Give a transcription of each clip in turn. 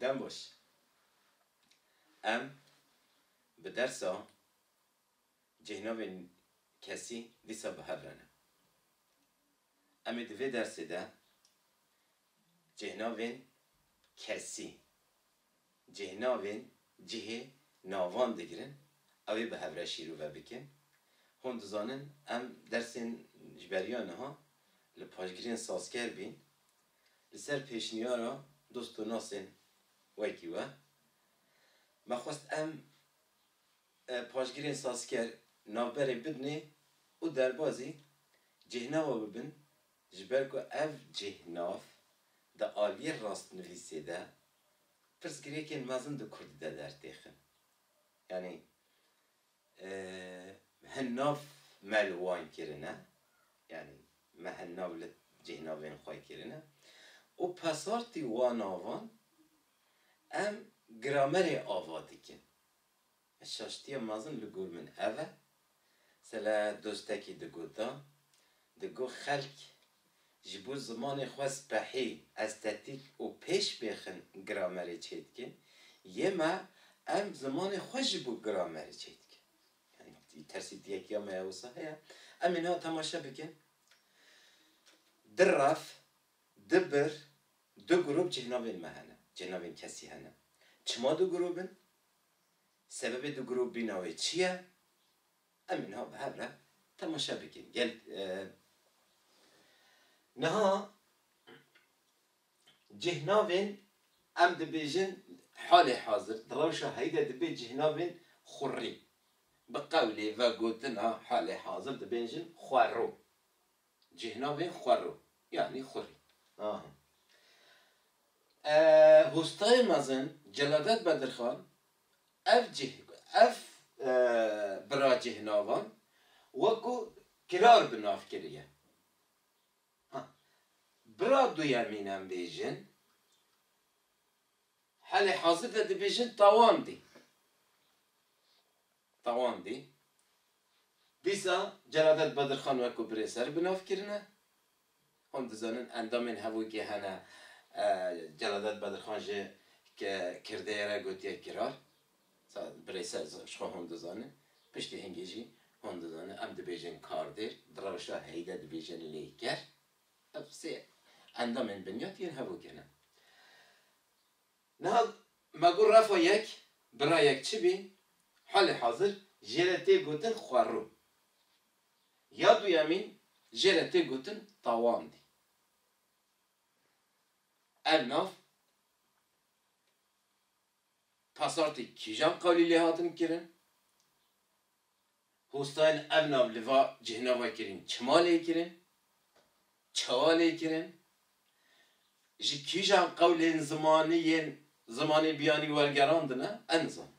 Dem boş. Em bi dersa cêhnavên kesî dîsa bi hev re ne. Em ê di vê dersê de cêhnavên kesî, cêhnavên cihê navan digirin, ew ê bi hev re şîrove bikin. Hûn dizanin em dersên ji beriya niha li paşgirên sazker bîn Li ser pêşniyara dost û nasên wekî we, me xwest em paşgirên sazker navberê bidinê û derbazî cihnawa bibin ji ber ku ev cihnav di aliyê rastnivîsê de pirsgirêkên mezin di kurdî de dertêxin. Yanî Hin nav me li wan kirine, yanî me hin nav li cîhnavên xwe kirine û pesartî wan navan em gramerê ava dikin. Şaştiya mezin li gor min ev e, sele dostekî digot da Digo xelk ji bo zimanê xwe spehî, estetîk û pêşbêxin gramerê çêdikin, yê me em zimanê xwe ji bo gramerê çêdikin. Yanî tersî diyek ya me ya wisa heye. Em ê niha temaşe bikin, di raf, di bir, du grûp cihnavên me hene, cihnavên kesî hene. Çima du grûp in? Sebebê du grûp bîna wê çi ye? Em niha bi hev re temaşe bikin. Gel niha cih navên em dibêjin halê hazir di rewşa heyî de dibê cih navên xurrî. Bi qewlê vegotina halê hazir dibêjin xwerro. Cih navên xwerro yanî xurrî. Aha. Hostayê mezin Celadet Bedirxan Ev cih, ev biracihnavan wekû kirar bi nav kiriye. Ha, bira duyemîn em bêjin, helê hazir de dibêjin tawandî. Tawandî. Dîsa Celadet Bedirxan wekû birêser bi nav kirine. Hûn dizanin endamên hevokê hene. Celadet Bedirxan jî ke kirdeyê re gotiye kirar. Sa birê ser ji xwe hûn dizanin. Piştî hingî jî hûn dizanin em dibêjin kardêr, di rewşa heyde dibêjin lêker. Ev sê endamên binyat yên hevokê ne. Niha me got refa yek, bira yek çi bî, halê hazir jê re tê gotin xwerû. Ya duyemîn jê re tê gotin tawandî. Ev nav pasartê kîjan qalî lê hatin kirin? Hostayên ev nav li va cihna vekirîn çima lê kirin? Çawa lê kirin? Ji kîjan qewlên zimanî yên zimanê biyanî wergerandine? Em nizanin.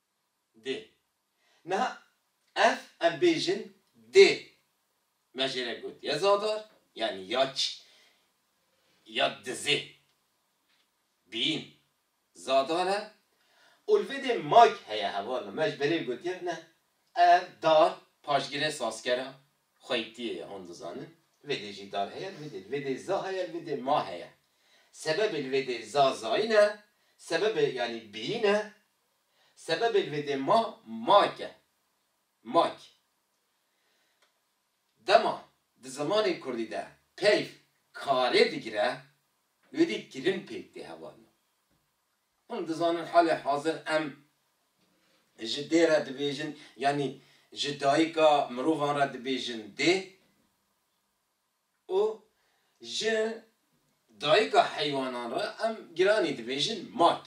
dê. Niha ev em bêjin dê me jê re got ya zadar yanî ya çi ya dizê bîn zadar e û li vê dê mayk heye hevala me ji berê gotiye ne ev dar paşgirê sazkera xweykdiyê ye hûn dizanin li vê dê jî dar heye li vê dê li vê dê za heye li vê dê ma heye sebebê li vê dê za zayîn e sebebê yanî bîn e Sebebê vêdê ma mak e. Mak. Dema di zimanê kurdî de peyv karê digire, wêdî kirin pêk tê hevalino. Hûn dizanin halê hazir em ji dê re dibêjin yanî ji dayika mirovan re dibêjin dê û ji dayika heywanan re em giranî dibêjin mak.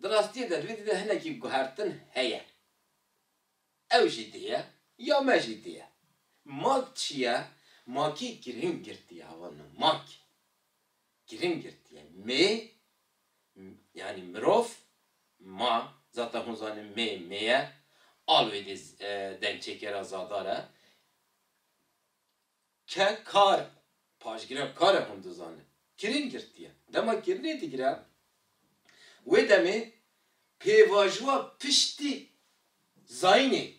Di rastiyê de rîdî de hinekî guhertin heye. Ew jî tê ye ya me jî tê ye. Mak çi ye? Makî girîng girtiye ava min mak girîng girtiye. Mê yanî mirov, ma, zata hûn zanîn mê mê ye, alwêdî dengçêkêra zadar e. Ke kar paşgirêv kare hûn dizanin kirîn girtiye. Dema kirînê digire wê demê pêvajowa piştî zayînê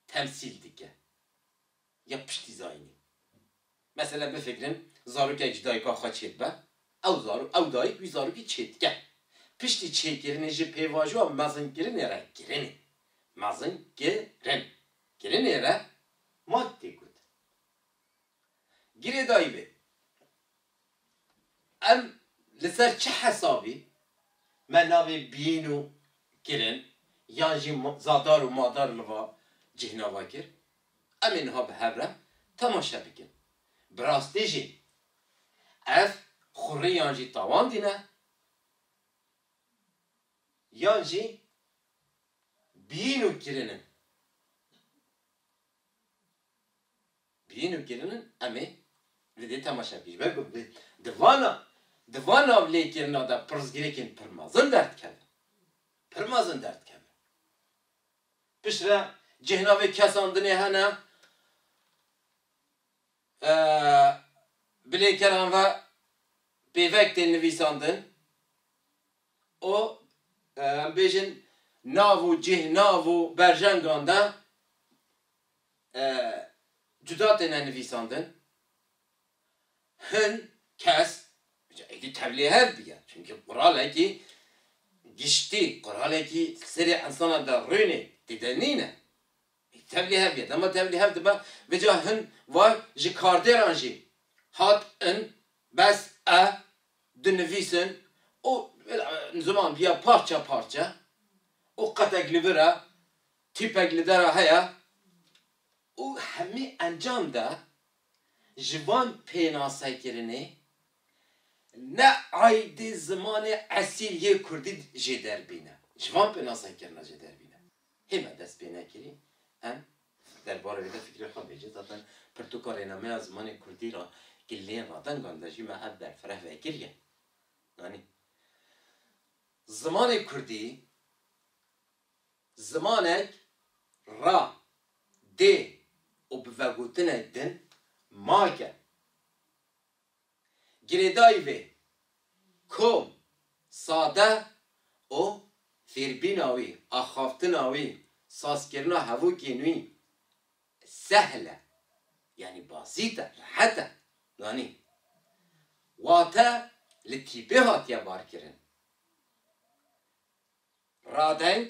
temsîl dike ya piştî zayînê. Mesela bifikirin zarokek ji dayika xwe çêdibe, ew zarok ew dayik wî zarokî çêdike. Piştî çêkirinê ji pêvajowa mezinkirinê re kirînê. Mezin ki rin. Kirinê re mat tê gotin. Girêdayî bê. Em li ser çi hesabî me navê bîn û kirin yan jî zadar û madar li va cih nava kir? Em ê niha bi hev re temaşe bikin. Bi rastî jî ev xurrî yan jî tawan dîne? yan jî biyîn û kirinin. Biyîn û kirinin em ê li dê temaşe bikin. Ji ber ku bi di vana di van nav lêkirina de pirsgirêkên pir mezin derdikevin. Pir mezin derdikevin. Piştre cihna vê kesandinê hene bi lêkeran ve pêvek tên nivîsandin. û em bêjin nav û cih, nav û berjengan de cuda têne nivîsandin. Hin kes, ca êdî tevlî hev diye çimkî quralekî giştî, quralekî li serê insana de rûnê tê de nîne. Êdî tevlî hev diye. Dema tevlî hev dibe, vê ca hin vay ji kardêran jî hat in Bes e, dinivîsin û ziman bîya parçe parçe û qetek li vir e, tîpek li der e heye û hemî encam de ji van pênasekirinê ne aydê zimanê esîl yê kurdî jê derbîne. Ji van pênasekirina jê derbîne. Hê me dest pê nekirî em Derbarê vê de fikrê xwe bêje. Zaten pirtûka rênameya zimanê kurdî re ki lê radengan de jî me ev berfireh vekiriye. Yanî zimanê kurdî zimanek ra dê û bi vegotinê din make. Girêdayî vê kom sade û fêrbîna wî, axaftina wî, sazkirina hevokên wî sehl e. Yanî basît e, rehet e. Yanî wate li tîpê hatiye barkirin. Radeng.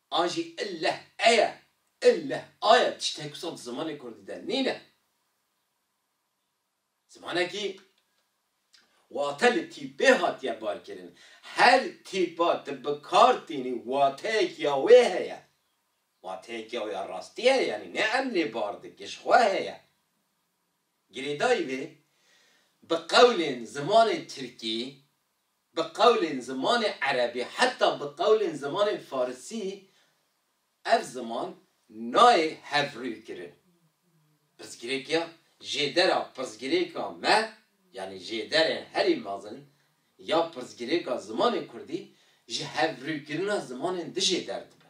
A jî il leh e ye, il leh a ye, tiştek wisa di zimanê kurdî de nîne. Zimanekî wate li tîpê hatiye barkirin. Her tîpa tu bi kar tînî wateyekî ya wê heye. Wateyekî ya wê ya rastî heye yanî ne em lê bar dikin ji xwe heye. Girêdayî vê bi qewlên zimanê tirkî Bi qewlên zimanê erebî heta bi qewlên zimanê farisî ev ziman nayê hevrûykirin. Pirsgirêkiya jêdera pirsgirêka me yanî jêderên herî mezin ya pirsgirêka zimanê kurdî ji hevrûykirina zimanên dijêder dibe.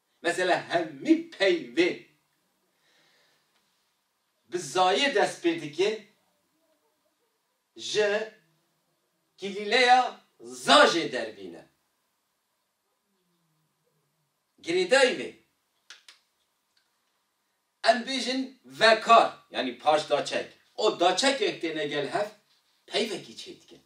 Mesela hemî peyvê bi zayê dest pê dike ji kilîleya za jê derbîne. Girêdayî vê em bêjin vekar yanî paş daçek û daçekek têne gel hev peyvekî çêdikin.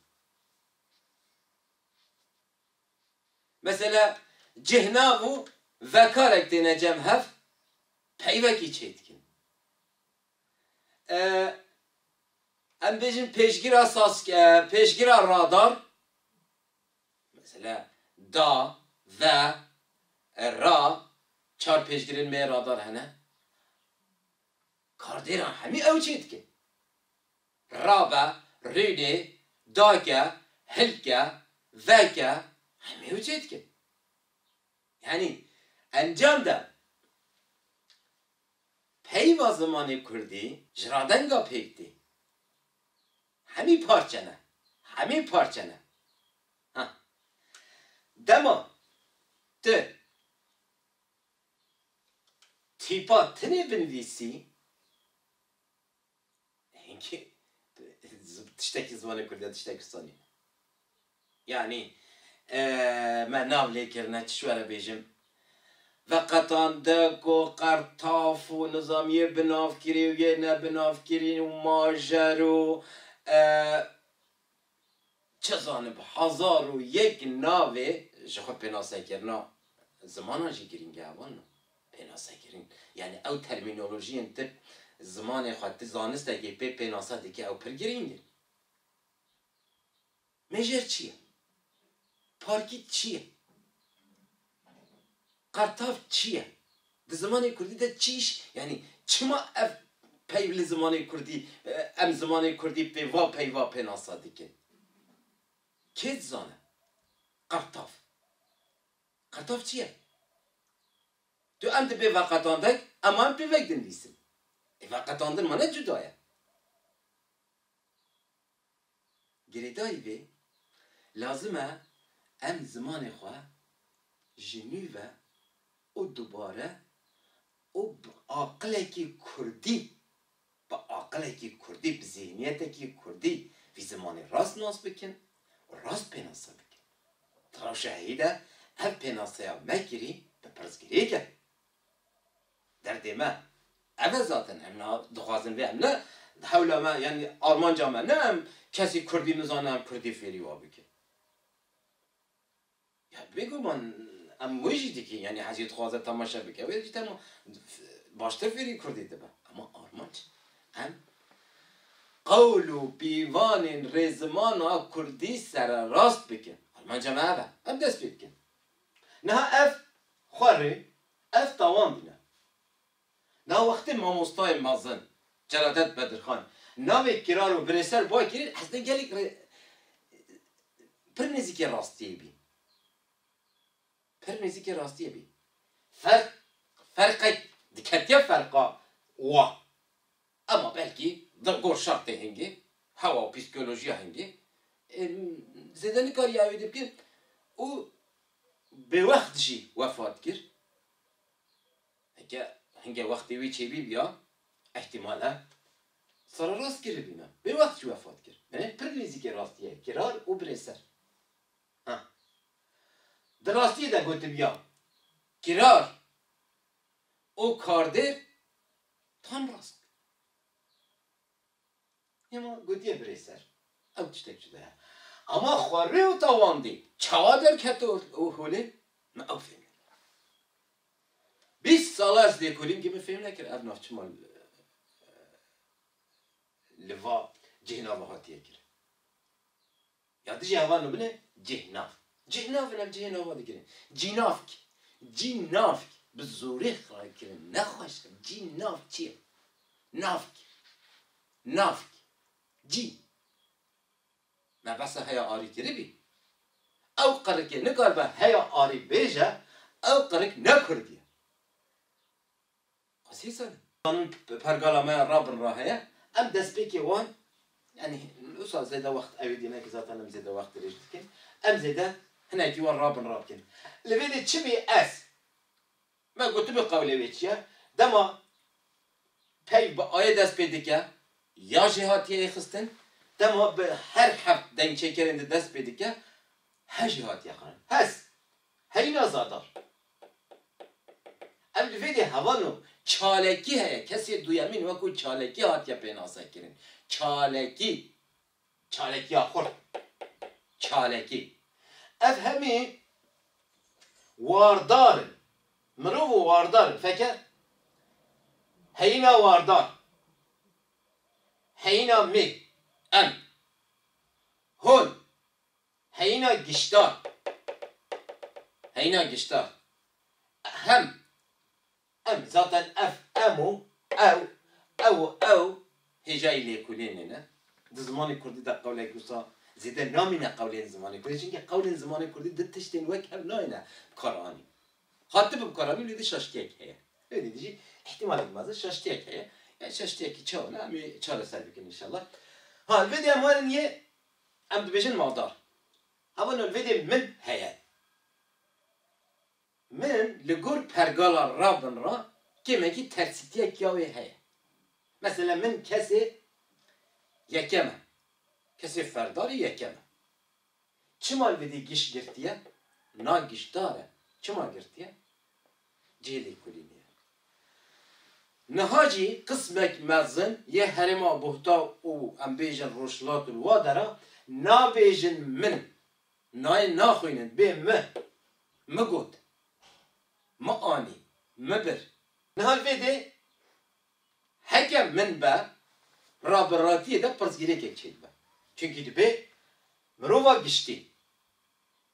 Mesela cih nav û vekarek têne cem hev peyvekî çêdikin. Em bêjin pêşgira sask pêşgira radar mesela da, ve, ra çar pêşgirên me yê radar hene. Kardêran hemî ew çêdikin. Rabe, rînê, dake, hilke, veke hemî ew çê dikin. Yanî encam de peyva zimanê kurdî ji radenga pêk tê. Hemî parçe ne. Hemî parçe ne. Ha. Dema tu tîpa tinê binivîsî. Hinkî tiştekî ziwanê kurdî ye tiştekî sonî ye. Yanî me nav lê kirine çi ji we re bêjim. Veqetan de ku qertaf û nizam yê binavkirî û yê nebinavkirî û majer û. Çi zanib hezar û yek navê ji xwe pênasekirina zimanan jî girîng e wan na. Pênasekirin yanî ew termînolojiyên tu zimanê xwe tu zanistekê pê pênase dikî ew pir girîng in. Mêjer çi ye? Parkît çi ye? Qertav çi ye? Di zimanê kurdî de çi îş, yanî çima ev peyv li zimanê kurdî, em zimanê kurdî pê va pey va pênasa dikin? Kê dizane? Qertav. Qertav çi ye? Tu em dibê veqetandek, em an pêvek dinivîsin. Ê veqetandin mane cuda ye. Girêdayî vê, lazim e em zimanê xwe ji nû ve û dubare û bi aqilekî kurdî, bi aqilekî kurdî, bi zîhniyetekî kurdî vî zimanê rast nas bikin û rast pênase bikin. Di rewşa herî de ev pênaseya me kirî bi pirsgirêk e. Derdê me ev e zaten. Em niha dixwazin vê em ne hewla me yanî armanca me ne em kesî kurdî nizane em kurdî fêrî wan bikin. Ya bêguman em wê jî dikin yanî hezî dixwaze temaşe bike wê jî tema baştir fêrî kurdî dibe. Ema armanc em qewl û pîvanên rê zimana kurdî sererast bikin. Armanca me ev e. Em dest pê dikin. Niha ev xwe rê Ev tawan bûne. Na wextê mamostayê mezin Celadet Bedirxan navê Kirar û Virê Ser Bay Kirî hestê gelek re pir nêzîkê rastiyê bî. Pir nêzîkê rastiyê bî. Ferq ferqek diketiye ferqa wa. Hema belkî di gor şertê hingê, hewa û psîkolojiya hingê zêde nikariya wê dî bike û bêwext jî wefat kir. Heke hinge wextê wê çêbîbiya îhtîmal e sererast kiribîne. Bêwext jî wefat kir. Binê pir nêzîkê rastiyê ye. Kirar û birê ser. Ha. Di rastiyê de gotibiya kirar û kardêr Tam rast bû. Hema gotiye birê ser, ew tiştek cuda ye. Ama xwe rê û tawandî çawa derket û holê, min ew fêm nekir. Bîst sal e ez lêkolîm ke min fêm nekir ev navçima li va cihê nava hatiye kirin. Ya dijî heval no bine cîhnav. Cîhnav in ev cihê nava dikirin. Cînavk, cînavk bi zorê xirayî kirin ne xweş e. Cînavk çi ye? Navk, navk, cî. Me behsa heya arî kiribî. Ew qirikê nikaribe heya arî bêje, ew qirik ne kurdî ye. Qasîsen zanîn ku pergala me ya rabin re heye, em destpêkê wan yanî min wisa zêde wext ewî dîme ku zaten em zêde wext dirêj dikin, em zêde hinekî wan rabin re bikin. Li vê de çi bê ez me gotibû qewlê wê çi ye, dema peyv bi ayê dest pê dike ya jê hatiye yê xistin, dema bi her heft dengçêkerên di dest pê dike he jî hatiye xwarin. Hes Heyna Zadar, Ev li vê de heval o, çalekî heye, kesê duyemîn wekû çalekî hatiye pênasekirin. Çalekî, çalekiya xurt, çalekî. Ev hemî wardar in. Mirov û wardar in. Feke, Heyna Wardar, Heyna Mê, Em, Hol, Heyîna giştdar Heyîna giştdar Hem Em Zaten ev em û ew, ew û ew hêjayî lêkolînê ne. Di zimanê kurdî de qewlek wisa zêde namîne qewlên zimanê kurdî. Çimkî qewlên zimanê kurdî di tiştên wek hev nayêne bikaranîn. Hatibe bikaranîn lê di şaştiyek heye. Lê dî jî îhtîmalek mezin şaştiyek heye. Yan şaştiyekî çawa ne em ê çareser bikin înşallah. Ha lê dê em werin yê Em dibêjin maldar. Hava nolvêdê min heye. Min li gor pergala ravin re kêmekî tersîtiya kiyawê heye. Mesela min kesê yekem e. Kesê ferdarî yekem e. Çima li vêdî giş girtiye? Na gişdar e. Çima girtiye? Cêdî kulînê ye. Niha jî qismek mezin yê herêma Buhta û em bêjin Rojhilat li wa dera nabêjin min im. Nayê naxwînin bê mi, mi got, mi anî, mi bir. Niha li vê dê heke min be ra bi ratiyê de pirsgirêkek çêdibe. Çunkî dibê mirova giştî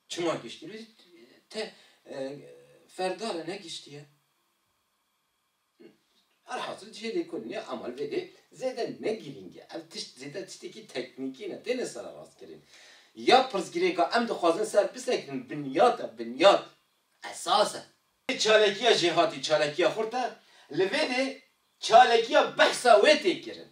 Çima giştî? Te ferdala negiştiye? Elhasil cihê lêkolînê Amal vê dê zêde ne girîng e. Ev tişt zêde tiştekî teknîkî ne, têne sererastkirin. Ya pirsgirêka em dixwazin ser bisekirin binyat e, binyat, esas e. Vê çalakiya jêhatî, çalakiya xurt e, li vê dê çalakiya behsa wê tê kirin.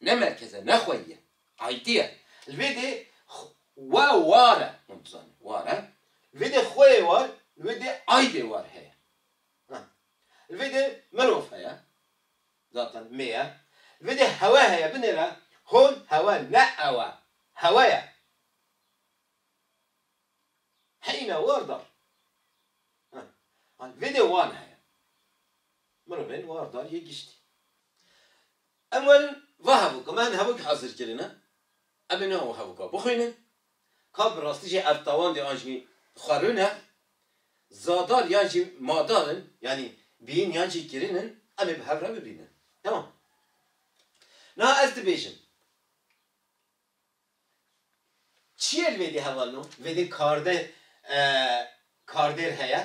Ne merkez e, ne xweyî ye. Ayîtî ye. Li vê dê we war e. Hûn dizanîn war e. Li vê dê xweyê war, li vê dê aydê war heye. Ha. Li vê dê mirov heye. Zaten mê ye. Li vê dê hewe heye. Binêre hûn hewe ne ew e. Hewe ye. Heyîna war dar. Ha. Ha li vê dê wan heye. Mirovên war dar yê giştî. Ewil va hevok me hin hevok hazir kirine, em ê niha û hevoka bixwînin. Ka bi rastî jî ertawandê an jî xwerûn e. Zadar yan jî madar in, yanî bîn yan jî kirîn in, em ê bi hev re bibînin. Temam. Niha ez dibêjim. Çiyê li vê dê hevalin o? Li vê dê kardeh kardêr heye.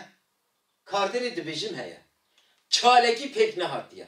Kardêrê dibêjim heye. Çalekî pêk nehatiye.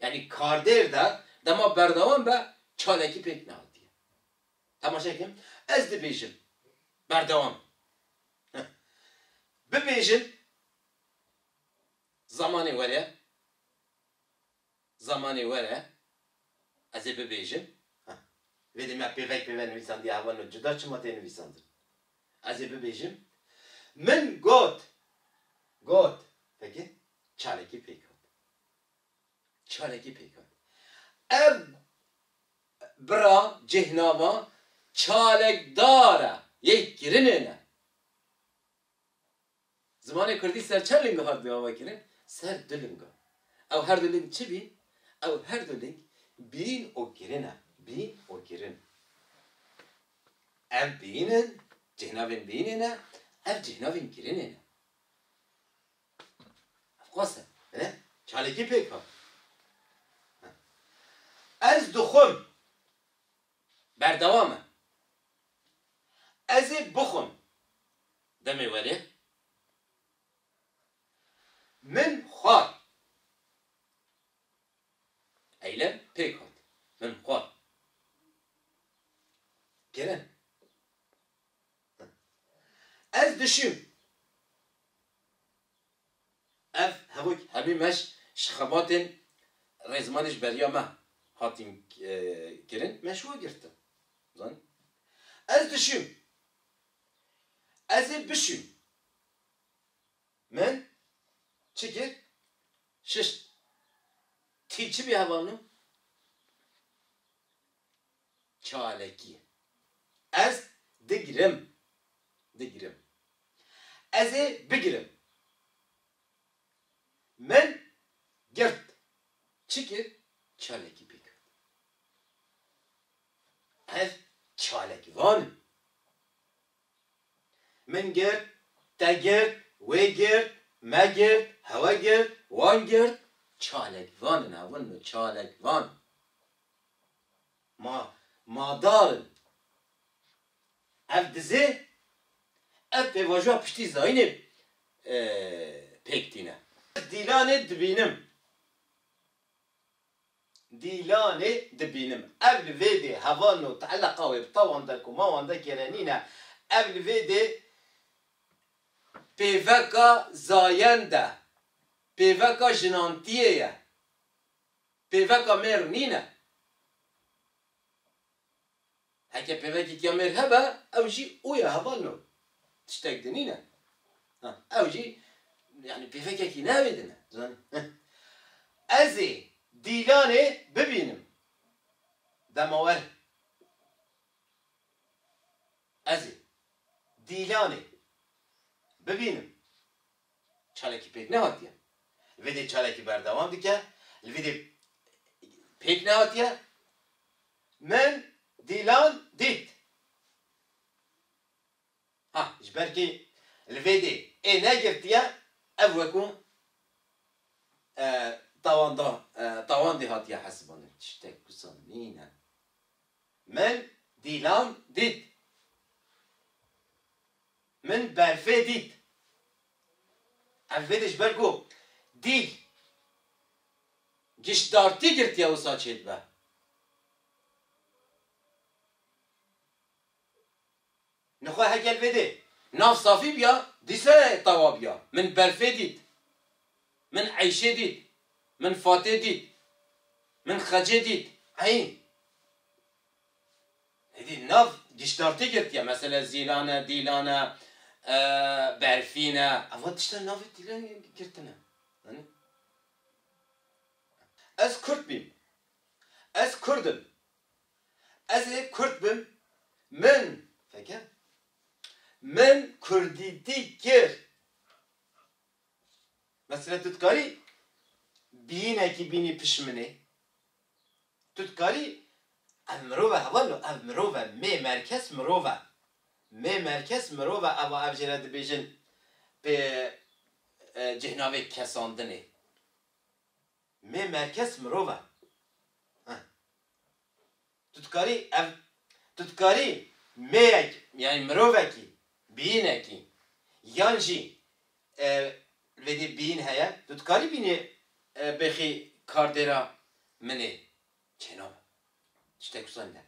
Yanî kardêr de dema berdewam be çalakî pêk nehatiye. Temaşe kim, ez dibêjim berdewam heh bibêjin zamanê were, zamanê were ez ê bibêjim heh vêdê me pêvek pêve nivîsandiye heval me cuda çima tê nivîsandin ez ê bibêjim min got got veke çalakî pêk hat. Çalakî pêk hat. Ev bira cêhnama çalakdar e, yê kirinê ne. Zimanê kurdî ser çend linga hat davakirin? Ser du linga. Ew her du ling çi bîn? Ew her du ling bîn û kirin e. Bîn û kirin. Ev bîn in, cêhnavên bînê ne, ev cêhnavên kirinê ne. Qas e. He? Çalakî pêk hat. He. Ez dixwim. Berdewam e. Ez ê bixwim. Demê werê. Min xwar. Eylem pêk hat. Min xwar. Kerem. Ez dişim. Ev hemû hemî me ji xebatên rêzmanê ji beriya me hatîn kirin, me ji we girtin. Zanî? Ez dişim. Ez ê bişim. Min çi kir? Şişt. Tî çi bî hevalino? çalekî. Ez digrim, digrim. Ez ê bigirim. Min girt. Çi kir? Çalekî pê girt. Ez çalekvan im. Min girt, te girt, wê girt, me girt, hewe girt, wan girt, çalekvan in. Ev in çalekvan. Ma ma dar in. Ev dizê, ev pêvajoya piştî zayînê pêk tîne. Ez dîlanê dibînim. Dîlanê dibînim. Ev li vê dê heval no teeleqa wê bi tawan de ku mawan de kere nîne. Ev li vê dê pêveka zayend e. Pêveka jinantiyê ye. Pêveka mêr nîne. Heke pêvekîkiya mêr hebe ew jî û ye heval no. Tiştek di nîne. Ha ew jî yanî pêvekekî ne wê di ne. Zanî. Ez ê Dîlanê bibînim. Dema were. Ez ê Dîlanê bibînim. Çalakî pêk nehatiye. Li vê dê çalakî berdewam dike. Li vê dê pêk nehatiye. Min Dîlan dît. Ha, ji ber kê li vê dê ê negirtiye, ev weku tawandê hatiye hesibanin. Tiştek wisa nîne. Min Dîlan dît. Min berfê dît. Ev vê de ji ber ku dîl giştdartî girtiye wisa çêdibe. Nixwe heger vê dê nav safî biya dîse tawa biya. Min berfê dît. Min eyşê dît. Min fatê dît. Min xecê dît. Eyî. Hêdî nav giştan tê girtiye mesele zîlan e, dîlan e, berfîn e. Eva tiştan navê tîlengê girtine. Zanî? Ez Kurd bîm. Ez Kurd im. Ez ê Kurd bim. Min, feke, min Kurdîtî kir. Mesele tu dikarî bîyînekî bînî pişt min ê? Tu dikarî ev mirove heva no ev mirove mê merkez mirove mê merkez mirove eva ev jê re dibêjin pê cêhnavê kesandinê mê merkez mirove he tu dikarî ev tu dikarî mêyek yanî mirovekî biyînekî yan jî Vedê bîn heye tu dikarî bînê bêxî kardêra min ê. Çênabe. Tiştek wisa nîne.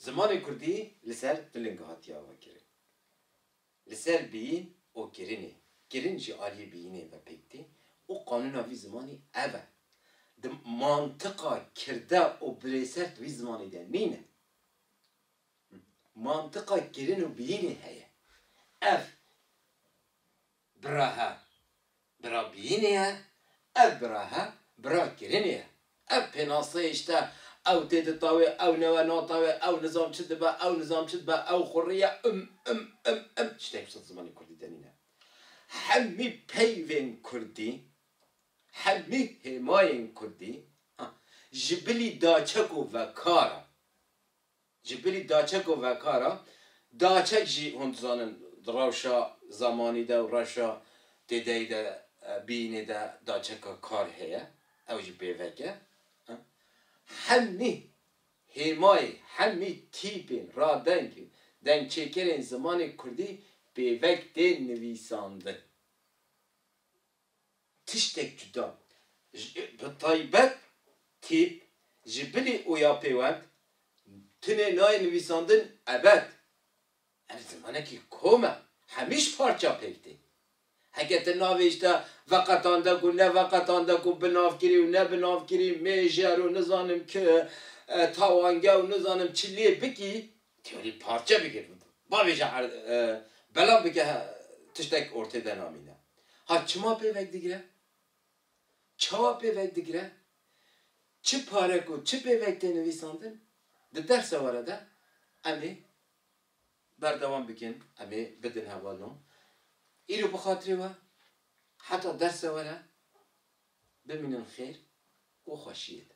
Zimanê kurdî li ser du linge hatiye avakirin. Li ser bîn û kirinê. Kirin jî aliyê bîyinê ve pêk tê û qanûna vî zimanî ev e. Di mantiqa kirde û birêser di vî zimanî de nîne. Mantiqa kirin û biyînê heye. Ev bira he, bira biyînê ye, ev bira he, bira kirinê ye. Ev pênaseyê işte, ew tê di tawê, ew newe natawê, ew nizam çi dibe, ew nizam çi dibe, ew xurrî ye, ım, ım, ım, ım, işte hepsi di zimanê kurdî de nîne. Hemî peyvên kurdî, hemî hêmayên kurdî, ha, ji bilî daçek û vekar e. Ji bilî daçek û vekar a, daçek jî hûn dizanin di rewşa zamanî de û rewşa têdayî de bîyînê de daçeka kar heye, ew jî pêvek e. Hemî hêmayê, hemî tîpên, radengên, dengçêkerên zimanê kurdî pêvek tên nivîsandin. tiştek cuda, bi taybet tîp ji bilî û ya pêwend tunê nayê nivîsandin ebed. Ev zimanekî kom e, hemî ji parça pêk tê. Heke tu navê ji te veqetandek û neveqetandek û binavkirî û nebinavkirî, mêjer û nizanim ki tawange û nizanim çi lê bikî, Diyarî parçe bike bavê jî belav bike tiştek ortê de namîne. Ha çima pêvek digire? Çawa pêvek digire? Çi pare ku çi pêvek tê nivîsandin di dersa were de em ê berdewam bikin, em ê bidin hevalno. Îro bi xatirê we heta dersa were bimînin xêr û xweşiyê de.